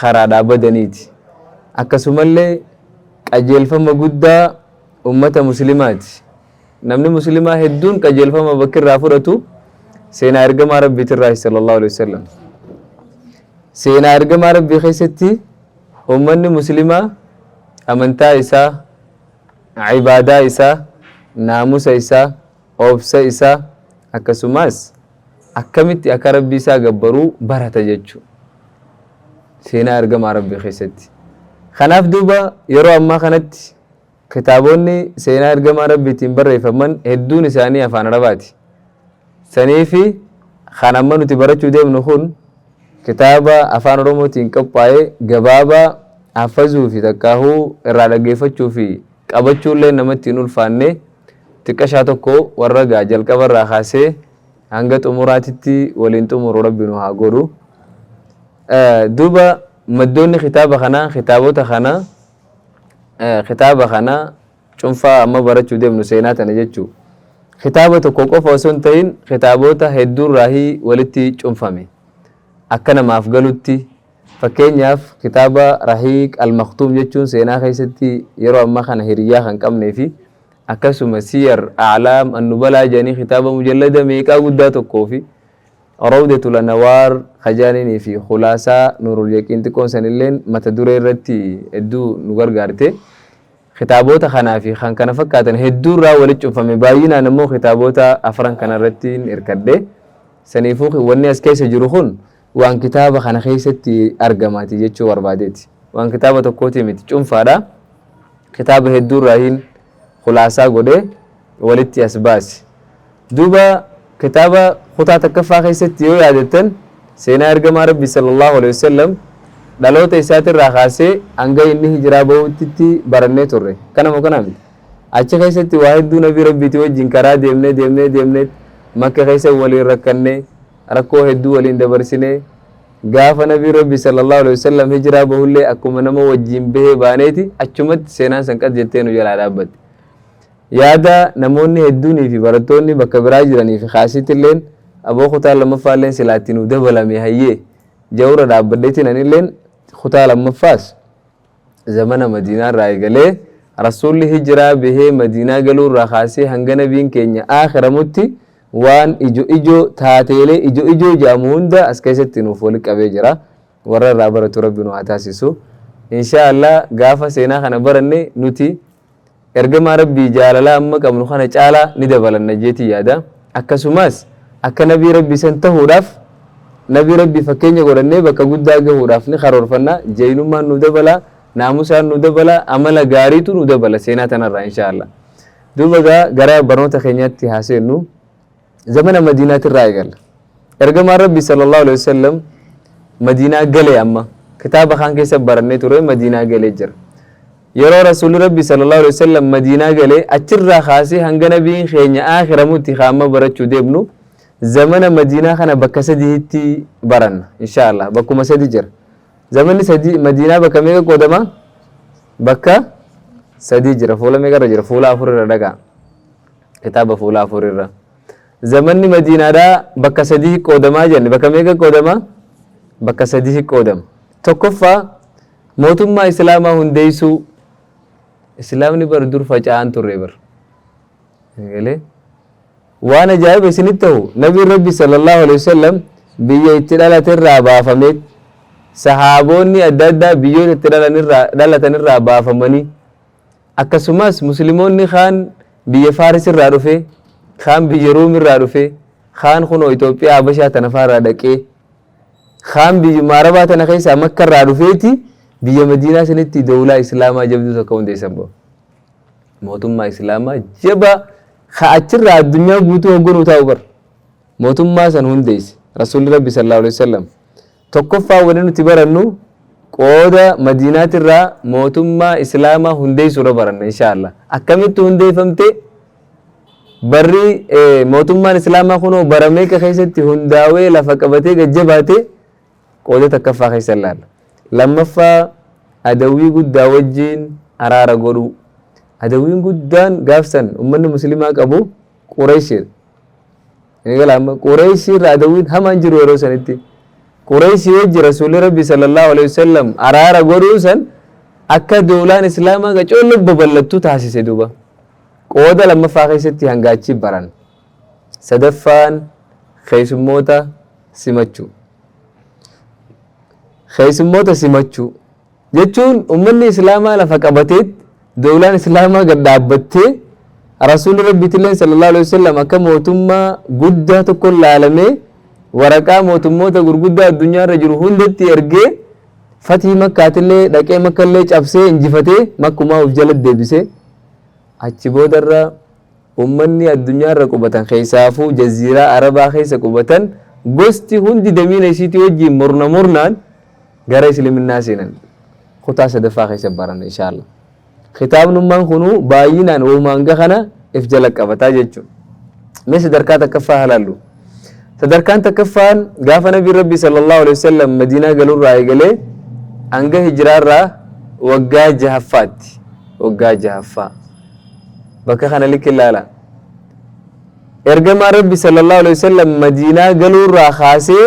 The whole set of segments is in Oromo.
karaadhaa badaniiti. Akkasumallee qajeelfama guddaa ummata muslimaati. Namni muslimaa hedduun qajeelfama bakki irraa fudhatu seenaa ergamaa rabbiitirraahi sallallahu alaihi wasallam. Seenaa ergamaa rabbii keessatti ummanni muslimaa amantaa isaa, ibaadaa isaa, naamusa isaa, obsa isaa akkasumas akkamitti akka Rabbii isaa gabbaruu barata jechu seenaa ergamaa Rabbii keessatti. Kanaaf duuba yeroo ammaa kanatti kitaaboonni seenaa ergamaa Rabbiitiin barreeffaman hedduun isaanii afaan Arabaati. Saniifi kan amma nuti barachuu deemnu kun kitaaba afaan Oromootiin qophaa'e gabaabaa haffazuu fi takkaahuu irraa dhaggeeffachuu fi qabachuullee namatti hin ulfaanne Xiqqashaa tokko warra egaa jalqaba irraa kaasee hanga xumuraatitti waliin xumuru rabbi nu haa godhu. Duuba maddoonni kitaaba kanaa kitaabota kana kitaaba kana cunfaa amma barachuu deemnu seenaa tana jechuu kitaaba tokko qofa osoo hin ta'in kitaabota hedduurraahii walitti cunfame akka namaaf galutti Fakkeenyaaf, kitaaba Rahiiq Al-Makhtuum jechuun seenaa keessatti yeroo ammaa kana hiriyyaa kan qabnee fi akkasuma Siyar A'laam An-Nubalaa jedhanii kitaaba mujallada meeqaa guddaa tokkoo fi Rawdatul Anawaar ka jedhaniinii fi Khulaasaa Nuurul Yaqiin xiqqoon sanilleen mata duree irratti hedduu nu gargaarte. Kitaaboota kanaa fi kan kana fakkaatan hedduu irraa walitti cunfame baay'inaan ammoo kitaaboota afran kana irrattiin hirkadhe. Saniifuu wanni as keessa jiru kun waan kitaaba kana keessatti argamaati jechuu barbaadeeti. Waan kitaaba tokkootii miti cunfaadha. Kitaaba hedduurraahiin khulaasaa godhee walitti as baase. Duuba kitaaba kutaa takkaffaa keessatti yoo yaadattan seenaa ergamaa Rabbi sallallahu alaihi wasallam dhaloota isaatirraa kaasee hanga inni hijiraa bahutti barannee turre. Kana moo kana miti? Achi keessatti waa hedduu nabii Rabbiitii wajjin karaa deemnee deemnee deemnee makka keessa waliin rakkannee rakkoo hedduu waliin dabarsine gaafa nabiin rabbi sallallahu alaihi wasallam hijiraa bahullee akkuma nama wajjiin bahee baaneeti achumatti seenaan san qad jettee nu jalaa dhaabbatte yaada namoonni hedduunii fi barattoonni bakka biraa jiranii fi kaasiittilleen aboo kutaa lammaffaalleen silaatti nu dabalame hayyee jawra dhaabbadheetiin anilleen kutaa lammaffaas Zamana Madiinaa irraa eegalee, Rasuulli Hijraa bahee Madiinaa galuu irraa kaasee hanga Nabiin keenya aakhiramutti waan ijo ijoo, taateelee ijo ijoo jedhamu hunda as keessatti nuuf wali qabee jira. Warra irraa baratu Rabbi nu haa taasisu. Inshaa Allah gaafa seenaa kana baranne nuti Ergamaa Rabbii jaalalaa amma qabnu kana caalaa ni dabalanna jeetiin yaada. Akkasumaas akka Nabii Rabbii san tahuudhaaf Nabii Rabbii fakkeenya godhannee bakka guddaa gahuudhaaf ni karoorfanna. Jaynummaan nu dabala, naamusaan nu dabala, amala gaariitu nu dabala seenaa tanarraa inshaa Allah. Duuba gaa gara barnoota keenyaatti haa seennu. zamana madiinaati irraa eegalla ergamaan rabbi sallallahu alaihi wasallam madiinaa galee amma kitaaba kaan keessa barannee ture madiinaa galee jira yeroo rasuulli rabbi sallallahu alaihi wasallam madiinaa galee achirraa kaasee hanga nabiin keenya aakiramutti kaamma barachuu deemnu zamana madiinaa kana bakka sadiitti baranna insha allah bakkuma sadi jira zamanni sadii madiinaa bakka meeqa qoodama bakka sadii jira fuula meeqa irra jira fuula afur irra dhagaa Kitaaba fuula afur irra. Zamanni Madiinaadhaa bakka sadii qoodamaa jenne. Bakka meeqa qoodama? Bakka sadii qoodama. Tokkoffaa mootummaa Islaamaa hundeessuu. Islaamni bar dur faca'aan turre bar. Galee? Waan ajaa'iba isinitti ta'u Nabiin Rabbi sallallahu alaihi wasallam biyya itti dhalate irraa baafamee sahaaboonni adda addaa biyyoota itti dhalatan irraa baafamanii Akkasumas Muslimoonni kaan biyya Faaris irraa dhufee, kaan biyya Ruum irraa dhufee, kaan kunoo Itoophiyaa Habashaa tana faa irraa dhaqee, kaan biyyuma Arabaa tana keessaa Makka irraa dhufeeti biyya Madiinaa sanitti dowlaa Islaamaa jabduu takka hundeessan boo. Mootummaa Islaamaa jabaa ka achirraa addunyaa guutuu hogganuu taa'u bar. Mootummaa san hundeesse Rasuulli Rabbi sallallahu alaihi wasallam. Tokkoffaan wanni nuti barannu qooda madiinaatirraa mootummaa islaamaa hundeessuurra baranna inshaa allaah. Akkamitti hundeeffamte? Barri mootummaan islaamaa kunoo bara meeqa keessatti hundaawee lafa qabatee gad jabaate qooda takkaffaa keessa ilaalla. Lammaffaa adawwii guddaa wajjiin araara godhuu. Adawwiin guddaan gaafsan ummanni muslimaa qabu qureeshidha. Galaama Qureeshii irra adawwiin hamaan jiru yeroo sanitti. Qureeshii wajji Rasuulli Rabbi sallallahu alaihi wasallam araara godhuu san akka doolaan Islaamaa gacoollee babal'attu taasise duuba. Qooda lammaffaa keessatti hanga achi baran. Sadaffaan keessummoota simachuu. Keessummoota simachuu. Jechuun ummanni islaamaa lafa qabateet dowlaan islaamaa gad dhaabbattee rasuulli rabbiitilleen sallallahu aleyh wasallam akka mootummaa guddaa tokkon laalamee waraqaa mootummoota gurguddaa addunyaa irra jiru hundatti ergee fatii makkaatillee dhaqee makkallee cabsee injifatee makkumaa uf jala deebisee achi boodarra ummanni addunyaa irra qubatan keessaafuu jaziiraa arabaa keessa qubatan gosti hundi damiina isiitii wajjiin murna murnaan Gara Isliminnaa seenan kutaa sadaffaa keessa baranna inshaa Allah. Kitaabnummaan kunuu baay'inaan wahuma hanga kana if jala qabata jechuudha. Mee sadarkaa takkaffaa haa laallu. Sadarkaan takkaffaan gaafa Nabiin Rabbii sallallahu alaihi wasallam Madiinaa galurraa eegalee hanga hijiraarraa waggaa jahaffaatti. Waggaa jahaffaa. Bakka kana likki ilaala. Ergamaan Rabbi sallallahu alaihi wasallam Madiinaa galurraa kaasee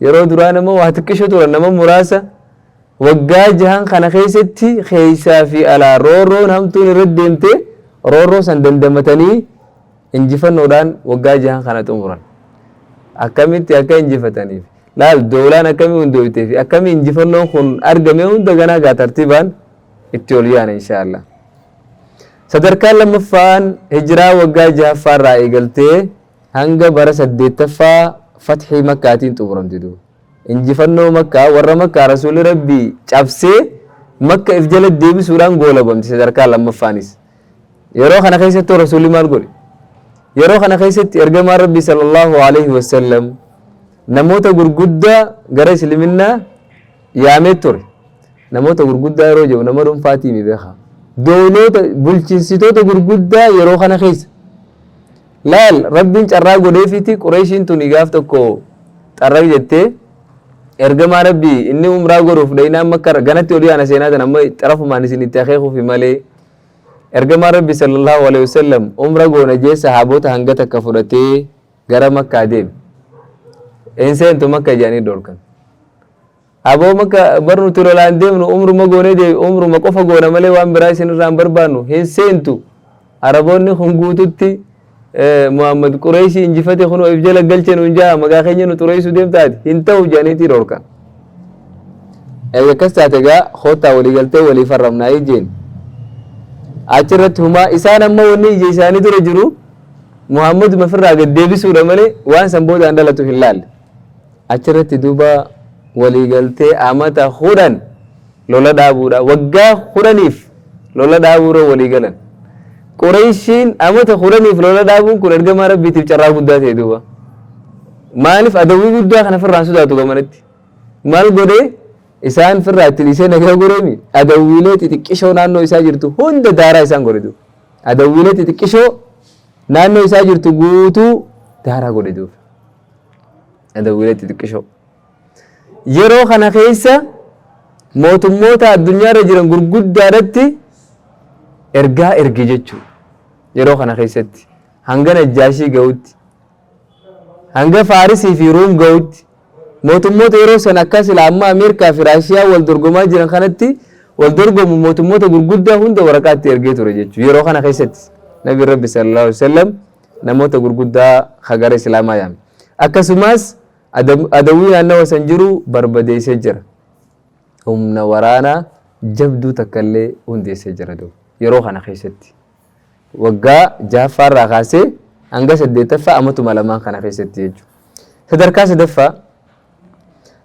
Yeroo duraa nama waa xiqqisho turan nama muraasa waggaa jahan kana keessatti keessaa fi alaa roorroon hamtuun irra deemte roorroo san dandamatanii injifannoodhaan waggaa jahan kana xumuran. Akkamitti akka injifataniif laal doolaan akkamii hundooytee fi akkamii injifannoon kun argame hunda ganaa gaa tartiibaan itti ol yaana inshaallah. Sadarkaan lammaffaan hijiraa waggaa jahaffaarraa eegaltee Hanga bara 8ffaa fathii makkaatiin xumuramte duuba. Injifannoo makkaa warra makkaa rasuulli rabbii cabsee makka if jala deebisuudhaan goolabamte sadarkaa lammaffaanis. Yeroo kana keessattuu rasuulli maal godhe? Yeroo kana keessatti ergamaan rabbii sallallahu alaihi wasallam namoota gurguddaa gara isliminnaa yaamee ture. Namoota gurguddaa yeroo jedhu nama dhuunfaatii mi beekaa? Dooloota bulchinsitoota gurguddaa yeroo kana keessa Laal! Rabbiin carraa godheefiiti Qureeshiin tuni gaaf tokko xarraq jettee, Ergamaa Rabbii, inni umraa godhuuf dhaynaan Makkarra, ganatti olii ana seenaa tana amma xarafumaan isin itti akeekuufi malee. Ergamaan Rabbii sallallahu aleyhi wasallam umra goona jee sahaabota hanga takka fudhatee gara Makkaa deeme. Hin seentu Makka jedhanii dhorkan. Aboo makka bar nuti lolaa hin deemnu umruma goonee deebi umruma qofa goona malee waan biraa isin irraa hin barbaannu hin seentu araboonni kun guututti Muhammad qureeshii injifate kunoo if jala galche nuun jaha maqaa keenya nu xureessu deemta ati hin ta'u jedhaniitii dhorkan erga akkas taate egaa koottaa walii galtee walii farramnaa ijjeen achirratti humaa isaan amma wanni ija isaanii dura jiru Muhammad mafirraa gad deebisuudha malee waan san boodaan dhalatu hin laalle Achirratti duuba waliigaltee amata kudhan lola dhaabuudha. Waggaa kudhaniif lola dhaabuurra waliigalan. Qureyshiin amata kudhaniif lola dhaabuun kun ergamaa rabbiitiif carraa guddaa ta'e duuba. Maaliif adawwii guddaa kana firraan sodaatu gamanatti? Maal godhee isaan firraa itti dhiisee nagaa goreemi adawwiilee xixiqqishoo naannoo isaa jirtu hunda daaraa isaan godhe duuba. Adawwiilee xixiqqishoo naannoo isaa jirtu guutuu daaraa godhe duuba. Adawwiileetti xiqqishoo. Yeroo kana keessa mootummoota addunyaarra jiran gurguddaadhatti ergaa erge jechuudha. Yeroo kana keessatti hanga Najjaashii ga'utti hanga Faarisii fi Ruum ga'utti mootummoota yeroo sana akka silaa amma Ameerikaa fi Raashiyaa wal dorgomaa jiran kanatti wal dorgomu mootummoota gurguddaa hunda waraqaatti ergee ture jechuudha. Yeroo kana keessatti Nabi Rabbi sallallahu alaihi wasallam namoota gurguddaa ka gara Islaamaa yaame. Akkasumaas Adawwii naannawa san jiru barbadeessee jira. Humna waraanaa jabduu takkallee hundeessee jira duuba. Yeroo kana keessatti waggaa jahaffaa irraa kaasee hanga saddeettaffaa amatuma lamaan kana keessatti jechuudha. Sadarkaa sadaffaa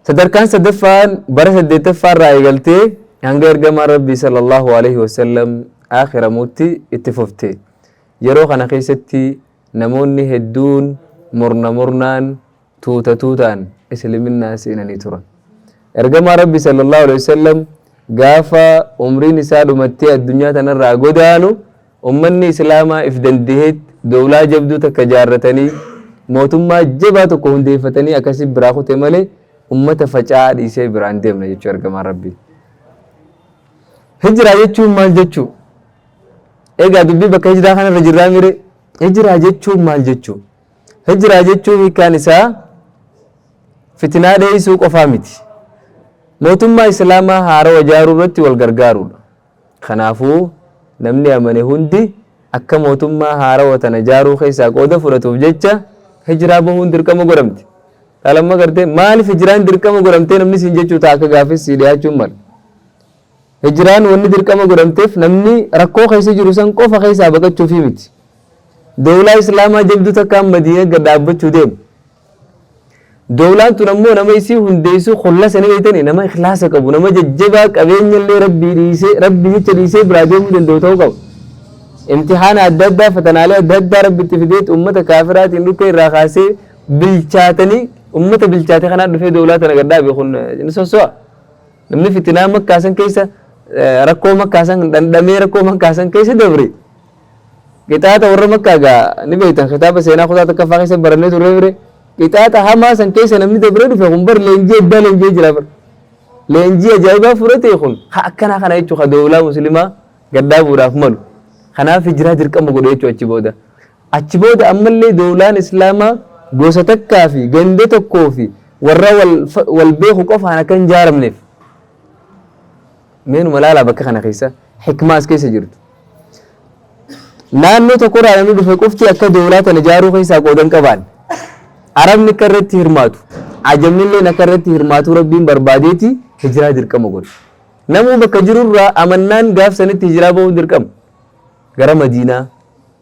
sadarkaan sadaffaan bara saddeettaffaa irraa eegaltee hanga ergamaan rabbii sallallahu alaihi wasallam aakiramuutti itti fufte. Yeroo kana keessatti namoonni hedduun murna murnaan, tuuta tuutaan Isliminaa seenanii turan. Ergamaan Rabbii sallallahu aleyh wasallam gaafa umriin isaa dhumattee addunyaa tanarraa godaanu ummanni Islaamaa if dandaheet dowlaa jabduu takka jaarratanii mootummaa jabaa tokko hundeeffatanii akkasiin biraa kute malee ummata faca'aa dhiisee biraan deemna jechuu ergamaan Rabbii. Hijraa jechuun maal jechuu? Egaa dubbii bakka hijraa kanarra jirraa mire hijraa jechuun maal jechuu? Hijraa jechuun hiikaan isaa fitinaa dheeysuu qofaa miti. Mootummaa Islaamaa haarawa jaaruu irratti wal gargaaruudha. Kanaafuu namni amane hundi akka mootummaa haarawa tana jaaruu keessaa qooda fudhatuuf jecha hijraa bahuun dirqama godhamte. Dhalamma gartee maaliif hijraan dirqama godhamtee namni siin jechuu ta'a akka gaafis sii dhiyaachuun mala. Hijraan wanni dirqama godhamteef namni rakkoo keessa jiru san qofa keessaa baqachuufii miti. Dowlaa Islaamaa jabduu takkaan Madiinatti gad dhaabbachuu deema. Dowlaan tun ammoo nama isii hundeessu khullasa ni beeytanii nama ikhlaasa qabu nama jajjabaa qabeenyallee rabbii dhiisee rabbii jecha dhiisee biraa deemuu danda'u ta'uu qaba. Imtihaana adda addaa fatanaalee adda addaa rabbi itti fideetti ummata kaafiraatiin dhukkee irraa kaasee bilchaatanii ummata bilchaate kanaa dhufee dowlaa tana gad dhaabe kun ni sosso'a. Namni fitinaa makkaa san keessa rakkoo makkaa san dhandhamee rakkoo makkaa san keessa dabre qixaaxa warra makkaa gaa ni beektan kitaaba seenaa kutaa takkaffaa keessa barannee turree bire qixaaxa hamaa san keessa namni dabree dhufe kun bar leenjii addaa leenjii jira bar leenjii ajaa'ibaa fudhate kun ha akkanaa kana jechuu ka doolaa muslimaa gaddaabuudhaaf malu kanaaf hijiraa dirqama godhe jechuu achi booda Achi booda ammallee dowlaan Islaamaa gosa takkaa fi ganda tokkoo fi warra wal beeku qofaan akka hin jaaramneef. Meenuma laalaa bakka kana keessa hikmaa as keessa jirtu. Naannoo tokkorraa namni dhufe qofti akka dowlaa tana jaaruu keessaa qooda hin qabaanne. Arabni akka irratti hirmaatu, ajamni illeen akka irratti hirmaatu rabbiin barbaadeeti hijiraa dirqama godhe. Namuu bakka jirurraa amannaan gaaf sanitti hijiraa bahuun dirqama. Gara Madiinaa.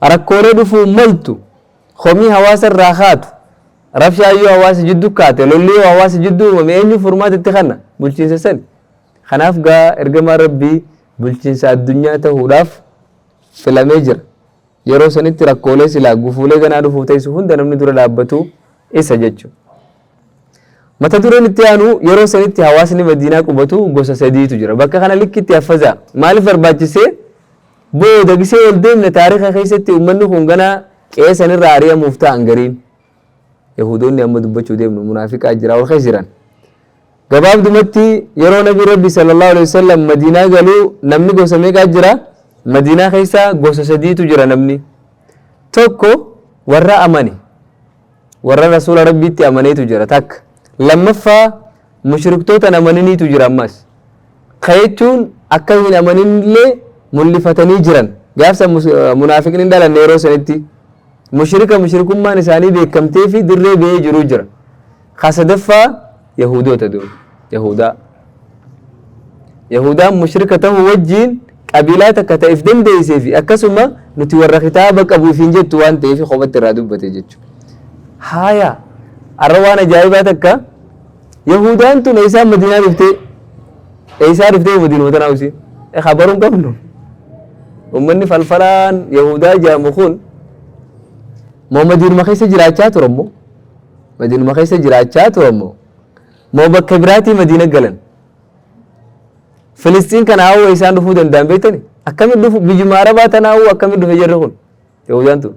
Rakkoolee dhufuun maltu, komii hawaasa irraa kaatu, rabshaan yoo hawaasa jiddu kaate, lolli yoo hawaasa jiddu uumame eenyuun furmaata itti kanna? Bulchiinsa sani. Kanaaf gaa ergamaan Rabbii bulchiinsa addunyaa tahuudhaaf filamee jira. Yeroo sanitti rakkoolee silaa gufuulee ganaa dhufuu teessu hunda namni dura dhaabbatu isa jechu. Mata dureen itti aanu yeroo sanitti hawaasni Madiinaa qubatu gosa sadiitu jira. Bakka kana likkitti haffazaa. Maaliif barbaachisee? Booda gisee ol deemne taarikha keessatti ummanni kun ganaa qe'ee sanirraa ari'amuuf ta'an gariin. Yahudoonni amma dubbachuu deemnu munaafiqaa jira ol keessa jiran. Gabaabdumatti yeroo nabi rabbi sallallahu alaihi wasallam madiinaa galuu namni gosa meeqaa jira? Madiinaa keessa gosa sadiitu jira namni. Tokko warra amane. Warra Rasuula Rabbiitti amaneetu jira takka. Lammaffaa mushriktoota hin amaniniitu jira ammas. Ka jechuun akka hin amaninillee mul'ifatanii jiran. Gaaf san mus- munaafiqni hin dhalanne yeroo sanitti. Mushrika mushrikummaan isaanii beekamtee fi dirree ba'ee jiru jira. Ka sadaffaa Yahudoota dur, Yahudaa. Yahudaan mushrika ta'uu wajjiin qabiilaa takka ta'eef dandeessee fi akkasuma nuti warra kitaaba qabu ifiin jettu waan ta'eef kophatti irraa dubbate jechuudha. Haaya, har'a waan ajaa'ibaa takka Yahudaan tun eessaa Madinaa dhuftee eessaa dhuftee Madinoota naa usii kabaruu hin qabnu. Uummanni falfalaan Yahudaa jedhamu kun Muhammadiinuma keessa jiraachaa ture immoo Madiinuma keessa jiraachaa ture ammoo moo bakka biraatii Madiina galan. Filisxiin kana hawwa isaan dhufuu danda'an beektani? Akkamitti dhufu biyyuma Arabaa tana hawwa akkamitti dhufe jarri kun? Yahudaan tun.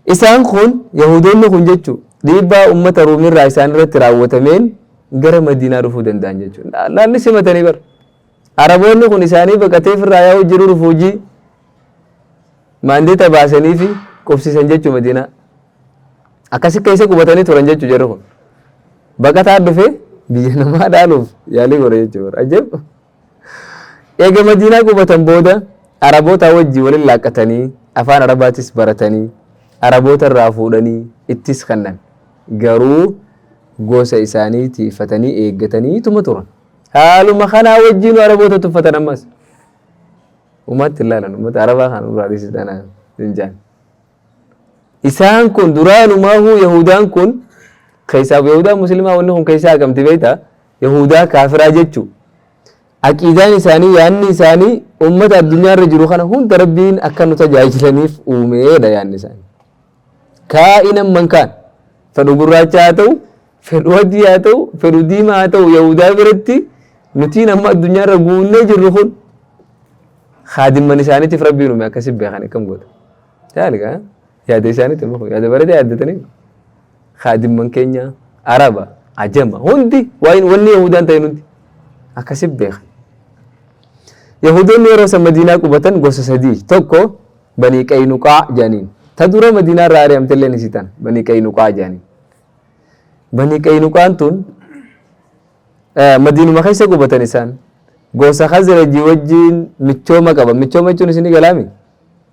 Isaan kun Yahudoonni kun jechuun dhiibbaa uummata Ruumirraa isaan irratti raawwatameen gara Madiinaa dhufuu danda'an jechuudha. Laalli simatanii bara. Araboonni kun isaanii baqatee firraa yaa'uu jiru dhufu hojii Maandeeta baasaniifi qubsiisan jechuu Madiinaa. Akkasi keessa qubatanii turan jechuu jarri kun. Baqataan dhufee biyya namaa dhaaluuf yaalii godha jechuu bara. Ajab! Eega Madiinaa qubatan booda Arabootaa wajji walin laaqqatanii afaan Arabaatis baratanii Araboota irraa fuudhanii ittis kannan. Garuu gosa isaanii tiifatanii eeggataniituma turan. Haaluma kanaa wajjiinu Araboota tuffatan ammas. Umaatti ilaalan ummata arabaa kan nurraa dhiisi tanaan hin jaan. Isaan kun duraanumaahuu Yahudaan kun keessaaf Yahudaa muslimaa wanni kun keessaa haqamti beektaa Yahudaa kaafiraa jechuu aqiidaan isaanii yaanni isaanii ummata addunyaa irra jiru kana hunda rabbiin akka nu tajaajilaniif uumeedha yaanni isaanii. Kaa'inan mankaan fedhu gurraacha haa ta'u Fedhu adii haa ta'u, fedhu diimaa haa ta'u Yahudaa biratti nutiin amma addunyaa irra guunnee jirru kun kaadimman isaaniitiif rabbiin uume akkasi beekan akkam goota. Taaliga yaada isaaniitti muku yaada bareedaa yaaddatanii kaadimman keenya Araba, Ajama hundi waan wanni Yahudaan ta'e hundi akkasi beekan. Yahudoonni yeroo san Madiinaa qubatan gosa sadii tokko Banii Qaynuqaa jedhaniin ta dura Madiinaa irraa ari'amte illee ni sitan Banii Qaynuqaa jedhaniin. Banii Qaynuqaan tun Madiinuma keessa qubatan isaan. Gosa Khazrajii wajjin michooma qaban. Michooma jechuun isin galaami?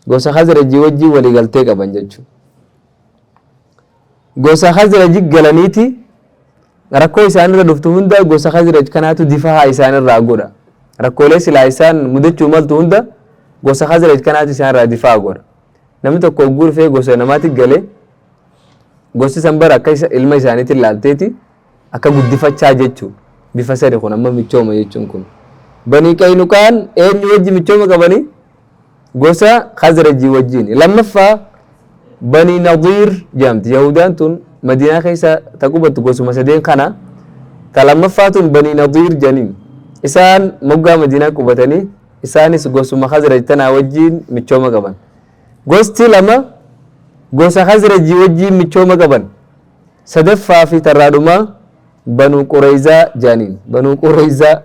Gosa Khazrajii wajjin walii galtee qaban jechuudha. Gosa Khazraji galaniiti rakkoo isaanirra dhuftu hunda gosa Khazraj kanaatu difaa isaanirraa godha. Rakkoolee silaa isaan mudachuu maltu hunda gosa Khazraj kanaatu isaanirraa difaa godha. Namni tokko hogguu dhufee gosa namaatti galee Gosti san bara akka isa, ilma isaaniitiin laalteeti akka guddifachaa jechu bifa sani kun amma michooma jechuun kun. Banii Qaynuqaan eenyu wajji michooma qabani? Gosa Khazrajii wajjiin. Lammaffaa Banii Nadiir jedhamti. Yahudaan tun Madiinaa keessa ta qubattu gosuma sadeen kana. Ta lammaffaa tun Banii Nadiir jedhaniin. Isaan moggaa Madiinaa qubatanii isaanis gosuma Khazraj tanaa wajjiin michooma qaban. Gosti lama gosa Khazrajii wajjiin michooma qaban. Sadaffaa fi tarraa dhumaa Banuu Qureyzaa jaaniin. Banuu Qureyzaa.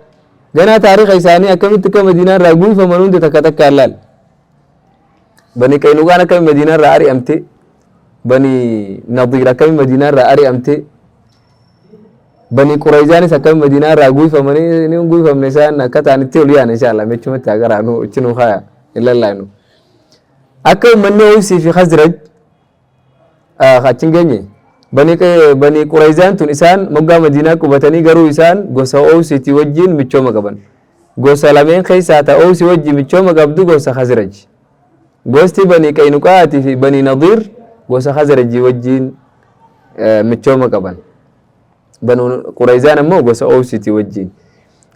Ganaa taarikha isaanii akkamitti akka Madiinaa irraa guuyfaman hunda takka takkaan laal. Bani Qaynuqaan akkami Madiinaa irraa ari'amte. Bani Nadiir akkami Madiinaa irraa ari'amte. Bani Qureyzaanis akkami Madiinaa irraa guuyfamanii ni guuyfamne isaan akka ta'an itti ol yaana inshaallaa mechumatti haa garaanu itti nu kaaya hin lallaanu. Akka ummanni Ooysii fi Khazraj achi hin geenye. Banii Qurayzaan tun isaan moggaa Madiinaa qubatanii garuu isaan gosa Ooysiitii wajjiin michooma qaban. Gosa lameen keessaa ta Ooysi wajji michooma qabdu gosa Khazraj. Gosti Banii Qaynuqaa'aatii fi Banii Nadiir gosa Khazrajii wajjiin michooma qaban. Banii Qurayzaan ammoo gosa Ooysiitii wajjiin.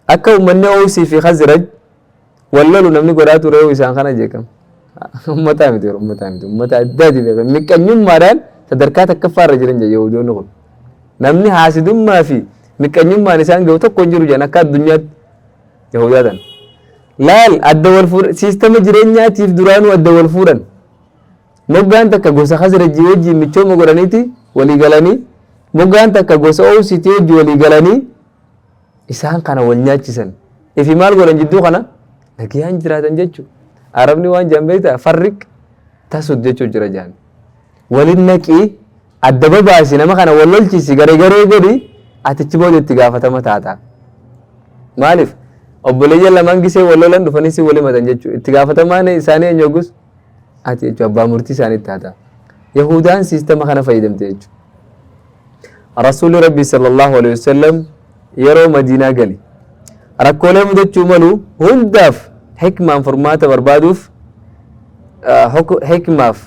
Akka ummanni Ooysii fi Khazraj Wal lolu namni godhaa ture hoo isaan kana jeeqama. Ummataa miti warra ummataa miti ummata addaati beekan miqqanyummaadhaan sadarkaa takkaffaa irra jiran jedha Yahudoonni kun. Namni haasidummaa fi miqqanyummaan isaan gahu tokko hin jiru jedhan akka addunyaatti Yahudaa tana. Laal adda wal fuudhan siistama jireenyaatiif duraanuu adda wal fuudhan. Moggaan takka gosa Khazrajii wajjin michooma godhaniiti walii galanii moggaan takka gosa Oosiitii wajjin walii galanii isaan kana wal nyaachisan ifi maal godhan jidduu kana nagayaan jiraatan jechu arabni waan jaan beekta farriq tasud jechuu jira jaan walin naqii adda babaasi nama kana wal lolchisi garegaree godhi atichi booda itti gaafatama taata maaliif obboleeyyan lamaan gisee wal lolan dhufanii si wal himatan jechuu itti gaafatamaan isaanii eenyu oggus ati jechuu abbaa murtii isaanii taata yahudaan siistama kana fayyadamte jechuudha Rasuulli Rabbii sallallahu alaihi wasallam yeroo Madiinaa gale rakkoolee mudachuu malu hundaaf hikmaan furmaata barbaaduuf hikmaaf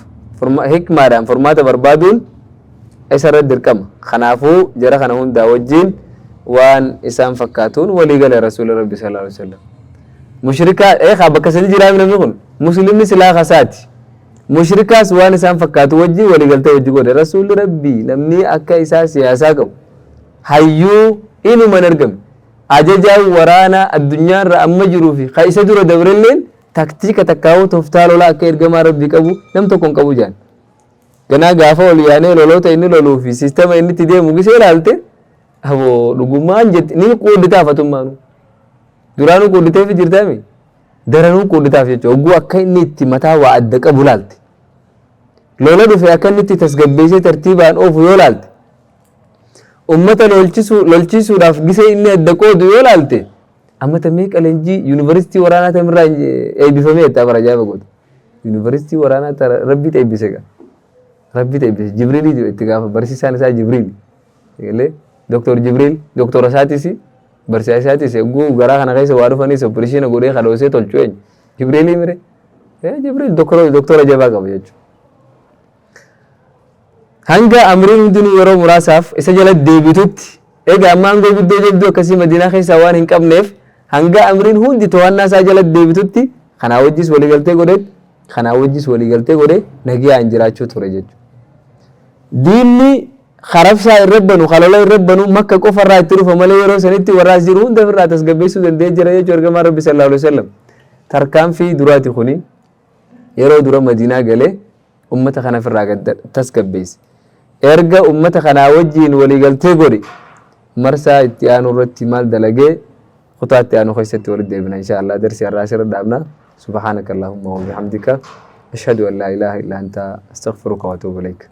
hikmaadhaan furmaata barbaaduun isa irratti dirqama. Kanaafuu jara kana hundaa wajjin waan isaan fakkaatuun walii gale Rasuulli Rabbii sallallahu alaihi wasallam. Mushrikaa eegaa bakka sadi jiraa namni kun muslimni silaa kasaati. Mushrikaas waan isaan fakkaatu wajji waligaltee wajji godhe. Rasuulli Rabbii namni akka isaa siyaasaa qabu, hayyuu inuma hin argamne. Ajajaan waraanaa addunyaarra amma jiruu fi ka isa dura dabrelleen taktiika takkaawuu toftaa lolaa akka ergamaa Rabbii qabu nam tokko hin qabu jaan. Ganaa gaafa ol yaanee loloota inni loluu fi siistama inni itti deemu gisee ilaalte aboo dhugumaan jette ni quudditaa fatummaanuu. Duraanuu quudditeefi jirtaami. daranuu quudhitaaf jechuudha. Hogguu akka inni itti mataa waa adda qabu laalte. Lola dhufe akka inni itti tasgabbeessee tartiibaan oofu yoo laalte. Uummata lolchiisuudhaaf gisee inni adda qoodu yoo laalte. Ammata meeqa leenjii yuunivarsiitii waraanaa tamirraa eebbifamee itti abara ajaa'iba godhu. Yuunivarsiitii waraanaa tara rabbiitu eebbise gaa. Rabbiitu eebbise. Jibriiliitu itti gaafa barsiisaan isaa Jibriili. Eegalee Doktor Jibriil doktora isaatis barsiisaa isaatis egguu garaa kana keessa waa dhufanis opereeshina godhee kadhoosee tolchu eenyu? Jibriilii mire? Ee Jibriil doktora doktora jabaa qaba jechuudha. Hanga amriin hundinuu yeroo muraasaaf isa jala deebitutti egaa amma aangoo guddoo jabduu akkasii Madiinaa keessaa waan hin qabneef hanga amriin hundi to'annaa isaa jala deebitutti kanaa wajjis waliigaltee godheet kanaa wajjis waliigaltee godhee nagayaan jiraachuu ture jechuudha. Diinni ka rabshaa irra banu ka lola irra banu makka qofa irraa itti dhufa malee yeroo sanitti warra as jiru hunda ofirraa tasgabbeessuu danda'ee jira jechuu ergamaan rabbi sallallahu alaihi wasallam tarkaanfii duraati kuni yeroo dura madiinaa galee ummata kana ofirraa gad tasgabbeesse erga ummata kanaa wajjiin waliigaltee godhe marsaa itti aanu irratti maal dalagee kutaa itti aanu keessatti walitti deebina insha Allah darsi har'aa asirra dhaabna subhaanaka allahumma wa bihamdika ashhadu an laa ilaaha illa anta astaghfiruka wa atuubu ilaik